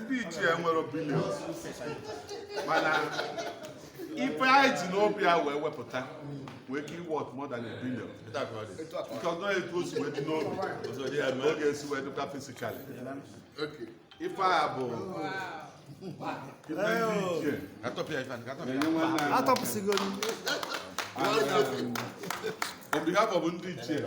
ndị ichie nwere billion mana ife anyị ji n'obi a wee wepụta wee ka i worth more than a billion because na etu o si wee dị n'obi ọ ga-esi wee dịkwa physically ife a bụ atọpụsịgo on behalf of ndị ichie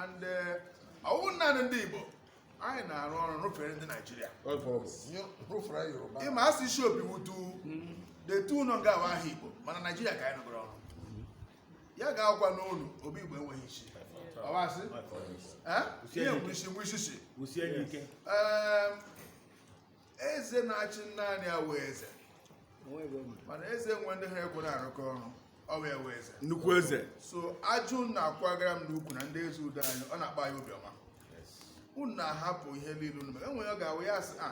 and eh, ọ wụ naanị ndị Igbo anyị na-arụ ọrụ rụfere ndị Naijiria ị ma asị isi obi wutu detu ụlọ nga awa ahụ Igbo mana Naijiria ka anyị nụgoro ọrụ ya ga-agwa n'ụlọ obi Igbo enweghị isi ọwasị ihe nwe isi nwe isi si eze na-achị naanị ya awụghị eze mana eze nwe ndị ha ekwe na-arụkọ ọrụ ọ wụ ya wụ eze nnukwu eze so ajụ na-akwagara m n'ukwu na ndị eze udo anyị ọ na-akpa ya obiọma unu na-ahapụ ihe niile unu mere enwere ọ ga-awụ ya asị a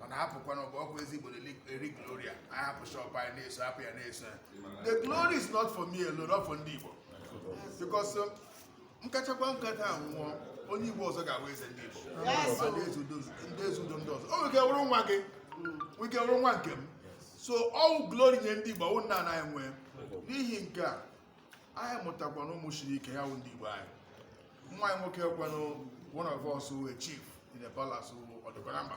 mana hapụkwana ọ bụ ọkụ eze igbo eri glory anyị hapụ shop anyị na-eso hapụ ya na-eso ya the glory is not for me alone not for ndị igbo because um, m kachakwaa nka taa nwụọ onye igbo ọzọ ga-awụ eze ndị igbo ndị eze udo ndị eze udo ndị ọzọ o nwere wụrụ nwa gị nwere ike wụrụ nwa nke m so all glory nye ndị igbo ọ wụ naanị anyị nwe n'ihi nke a anyị mụtakwa na ụmụ siri ike ha wụ ndị igbo anyị nwa anyị nwoke kwanụ one of us wụ a chief in the palace wụ ọdịkwa na mba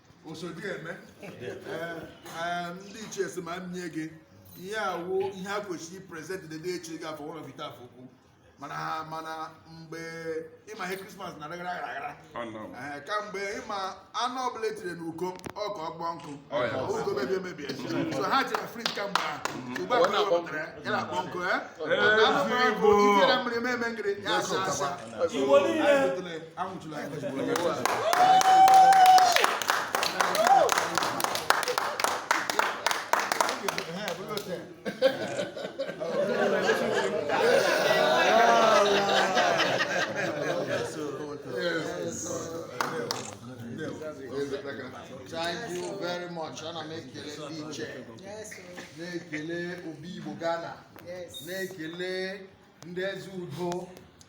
osodieme ndị ichie sị m nye gị ihe a wụ ihe e kwesịrị present the day e chi gị afọ ụlọ vita afọ ukwu mana mana mgbe ị ma ihe krismas na aghara aghara kamgbe ị ma anụ ọbụla e tiri n'uko ọkụ ọ kpọọ nkụ ọ gaghị emebi emebi so ha chere frit kamgbe ahụ ugbu a ka wepụtara ya na akpọ nkụ ya anụ ọbụla nkụ i tiere mmiri mee mengịrị ya asa asa anwụchila ya Thank you very much. Ana m ekele ndị ichie na-ekele Obi Igbo Ghana na-ekele ndị eze udo